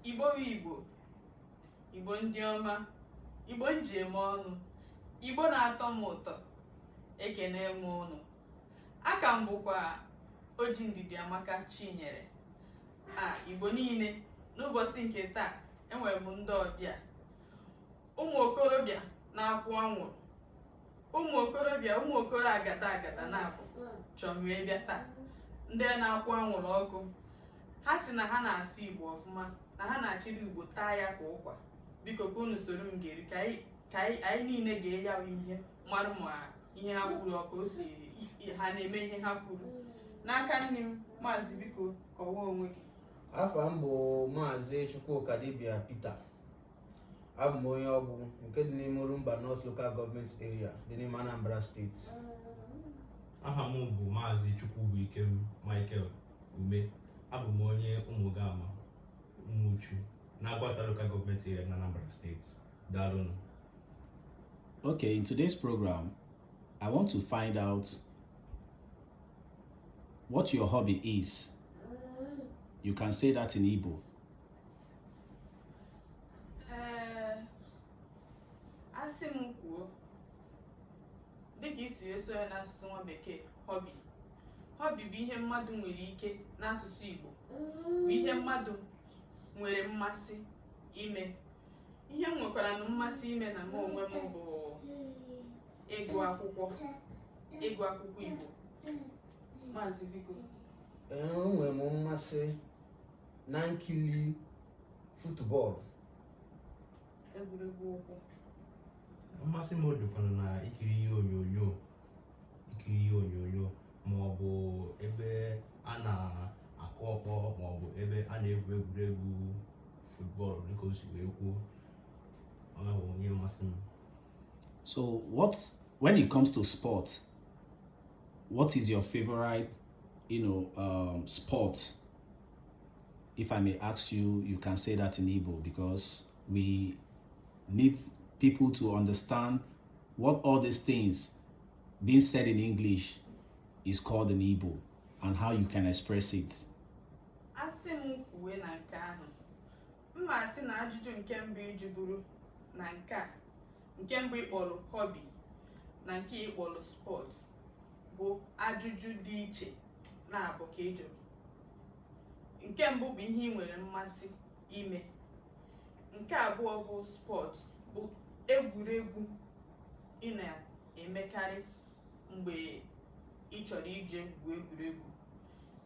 igbo bụ igbo igbo ndị ọma igbo m ji eme ọnụ igbo na-atọ m ụtọ ekenee m unu aka m bụkwa oji ndidiamaka chinyere a igbo niile n'ụbọchị nke taa enwere m ndị ọbịa ụmụ okorobịa na-akwụ anwụrụ ụmụ okorobịa ụmụ okoro agata agata naabọ chọrọ m bịa taa ndị a na-akwụ anwụrụ ọkụ ha sị na ha na-asụ igbo ọfụma na ha na-achịrị igbo taa ya ka ụkwa biko ka unu soro m gere ka anyị niile gee ya wa ihe mara ma ihe ha kwuru ọ ka o si ha na-eme ihe ha kwuru n'aka nni m maazị biko kọwaa onwe gị afa m bụ maazị chukwuka dibia peter abụ m onye Awgbu nke dị n'ime Orumba North Local Government Area dị n'ime Anambra steeti aha m bụ maazị Chukwubuikem Michael Ume abụ m onye Umugama Umuchu na Aguata Local Government Area na Anambra steeti daalụnụ Okay, in today's program, I want to find out what your hobby is. You can say that in Igbo. ee asị m kwuo dịka i siri sụọ ya n'asụsụ nwa bekee hobby hobby bụ ihe mmadụ nwere ike n'asụsụ Igbo bụ ihe mmadụ nwere mmasị ime ihe m nwekwaranụ mmasị ime na mụ onwe m bụ ịgụ akwụkwọ ịgụ akwụkwọ Igbo maazị biko enwe m mmasị na nkiri football egwuregwu ụkwụ mmasị m dịkwana na ikiri ihe onyonyo ikiri ihe onyonyo ma ọ bụ ebe a na-akụ ọkpọ ma ọ bụ ebe a na-egwu egwuregwu football dịka o si wee kwuo ọ bụ ihe mmasị m so what when it comes to sport what is your favorite you know um, sport If I may ask you, you can say that in Igbo because we need people to understand what all these things being said in English is called in Igbo and how you can express it. Asị m kwuwe na nke ahụ, m ma-asị na ajụjụ nke mbụ ị jụburu na nke a, nke mbụ ị kpọrọ hobby na nke ị kpọrọ sport bụ ajụjụ dị iche. na-abụ ka ị jụrụ nke mbụ bụ ihe ị nwere mmasị ime nke abụọ bụ sport bụ egwuregwu ị na-emekarị mgbe ị chọrọ ije gwuo egwuregwu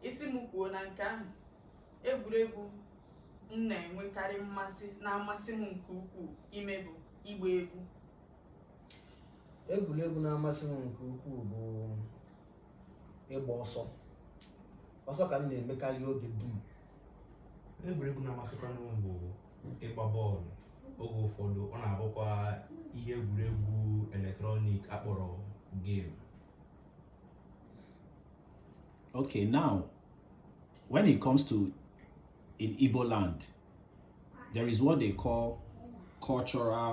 ị sị m kwuo na nke ahụ egwuregwu m na-enwekarị mmasị na-amasị m nke ukwuu ime bụ ịgba egwu egwuregwu na-amasị m nke ukwuu bụ ịgba ọsọ ọsọ ka m na-emekarị oge dum egwuregwu na-amasịkwanụ m bụ ịgba bọọlụ oge ụfọdụ ọ na-abụkwa ihe egwuregwu electronic a kpọrọ game okay now when it comes to in Igbo land there is what they call cultural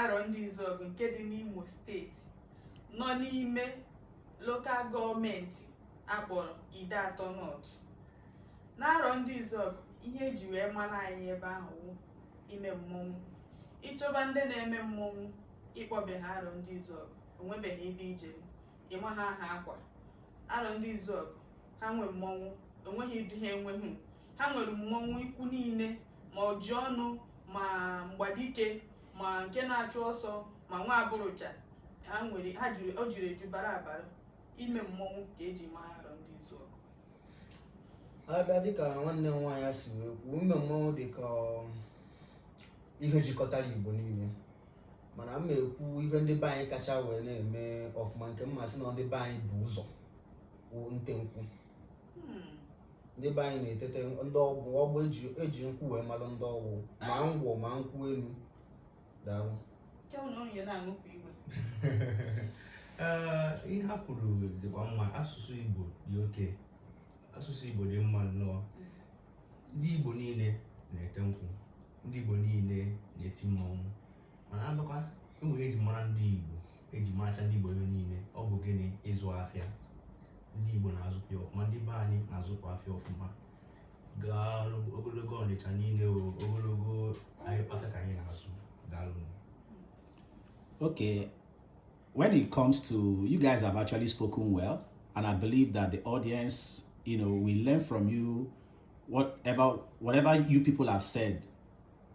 Arọndizuọgụ nke dị n'Imo steeti nọ n'ime lokal gọọmenti a kpọrọ Ideatọ North n'Arọndizuọgụ ihe eji wee mara anyị ebe ahụ wụ ime mmọnwụ ị chọba ndị na-eme mmọnwụ ị kpọbe ha Arọndizuọgụ o nwebeghị ebe ị je ịma ha aha akwa Arọndizuọgụ ha nwe mmọnwụ o nweghị ụdị ha enweghị ha nwere mmọnwụ ikwu niile ma oji ọnụ ma mgbadike ma nke na-achụ ọsọ ma nwa aburuja o juru eju bara abara ime mmọnwụ ka eji maa Arọndizuọgụ a bịa dịka nwanne m nwaanyị si wee kwuo ime mmọnwụ dị ka um, ihe jikọtara Igbo niile mana m na-ekwu ihe ndị be anyị kacha wee na-eme ọfụma nke m ma sị na ndị be anyị bu ụzọ wụ nte nkwụ Hmm. ndị be anyị na-etete ndị Ọgwụ Ọgwụ eji nkwụ wee malụ ndị Ọgwụ ma ngwọ ma nkwụ elu daalụ ihe ha kwuru dịkwa mma asụsụ Igbo dị oke asụsụ Igbo dị mma nnọọ ndị Igbo niile na-ete nkwụ ndị Igbo niile na-eti mmọnwụ mana a bịakwa enwere ihe eji mara ndị Igbo eji maracha ndị Igbo ebe niile ọ bụ gịnị ịzụ afịa ndị Igbo na-azụkwa ya ọfụma ndị be anyị na-azụkwa afịa ọfụma gaa ogologo Ọnịcha niile ogologo afịa ka anyị na-azụ daalụ okay when it comes to you guys have actually spoken well and I believe that the audience you know will learn from you whatever whatever you people have said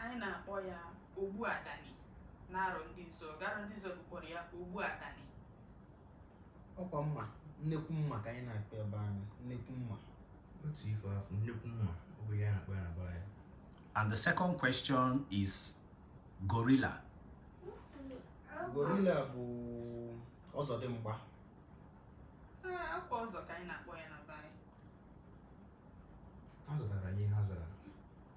Anyị na-akpọ ya ogbu adani n'Arọndizuọgụ Arọndizuọgụ kpọrọ ya ogbu adani ọkwa mma nnekwu mma ka anyị na-akpọ ya be anyị nnekwu mma otu ife afọ nnekwu mma ọ bụ ya na-akpọ ya na be anyị and the second question is gorilla gorilla bụ ọzọdịmgba ọkwa ọzọ ka anyị na-akpọ ya na be anyị ha zatara ihe ha zatara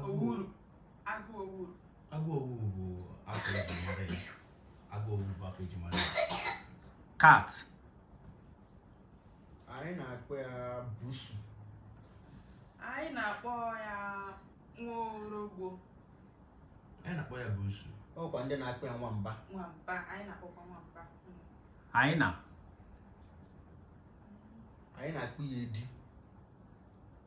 owuru agụ owuru agụ owuru bụ afa eji mara ya agụ owuru bụ afa eji mara ya cat anyị na-akpọ ya busu anyị na-akpọ ya nwa orogbo anyị na-akpọ ya busu ọkwa ndị na-akpọ ya nwamba nwamba anyị na-akpọkwa nwamba hyena anyị na-akpọ ya edi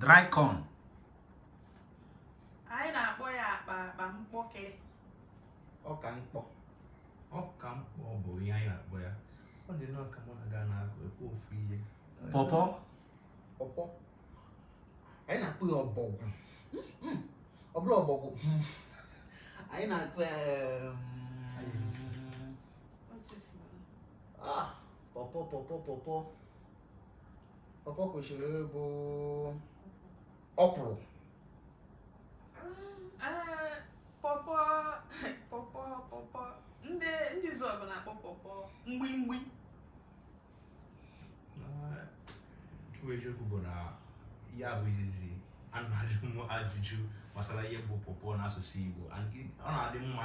dry corn anyị na-akpọ ya akpa akpa mkpọkịrị ọka mkpọ ọka mkpọ bụ ihe anyị na-akpọ ya ọ dị nnọọ ka mụ na gị na-ekwu ofu ihe pọpọ pọpọ anyị na-akpọ ya ọbọgwụ ọ bụrọ ọbọgwụ anyị na-akpọ ya ah pọpọ pọpọ pọpọ pọpọ kwesịrị ịbụ ọkwụrụ ah, pọpọ pọpọ pọpọ ndị Ndizuọgụ na-akpọ pọpọ mgbimgbi nke bụ eziokwu bụ na ya bụ izizi a na-ajụ m ajụjụ gbasara ihe bụ pọpọ n'asụsụ Igbo ọ na-adị mma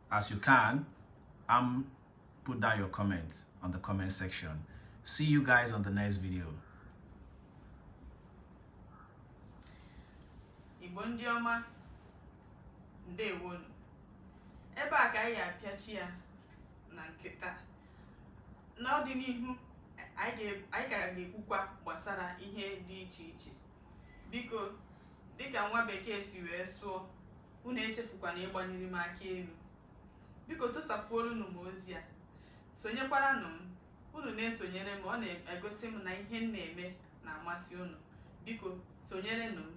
as you can and put down your comments on the comment section see you guys on the next video igbo ndị ọma ndewonụ ebe a ka anyị apịachi ya na nke taa n'ọdịnihu anyị ga-ekwukwa gbasara ihe dị iche iche biko dịka nwa bekee si wee sụọ unu echefukwana ịgbanyere m aka enu biko tụsakwuoronụ m ozi a sonyekwaranụ m unu na-esonyere m ọ na-egosi m na ihe m na-eme na-amasị unu biko sonyerenụ m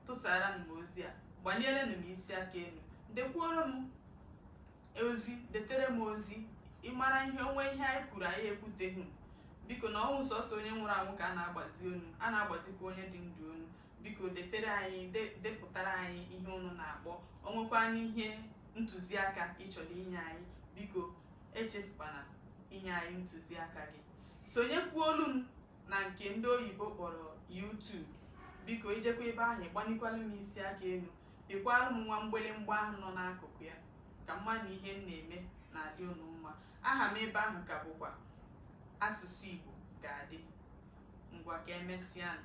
tụsaranụ m ozi a gbanyerenụ m isi aka enu dekwuoro m ozi detere m ozi ị mara ihe o nwee ihe anyị kwuru anyị ekwuteghị biko na ọ wụghị sọsọ onye nwụrụ anwụ ka a na-agbazi onu a na-agbazikwa onye dị ndụ onu biko detere anyị depụtara anyị ihe unu na-akpọ o nwekwanụ ihe ntụziaka ị chọrọ inye anyị biko echefukwana inye anyị ntụziaka gị sonyekwuolu m na nke ndị oyibo kpọrọ YouTube biko i jekwa ebe ahụ gbanikwala m isi aka elu Pịkwara m nwa mgbịrịmgba ahụ nọ n'akụkụ ya, ka m mara na ihe m na-eme na-adị unu mma. Aha m ebe ahụ ka bụkwa Asụsụ Igbo ga-adị. Ngwa ka emesịanụ.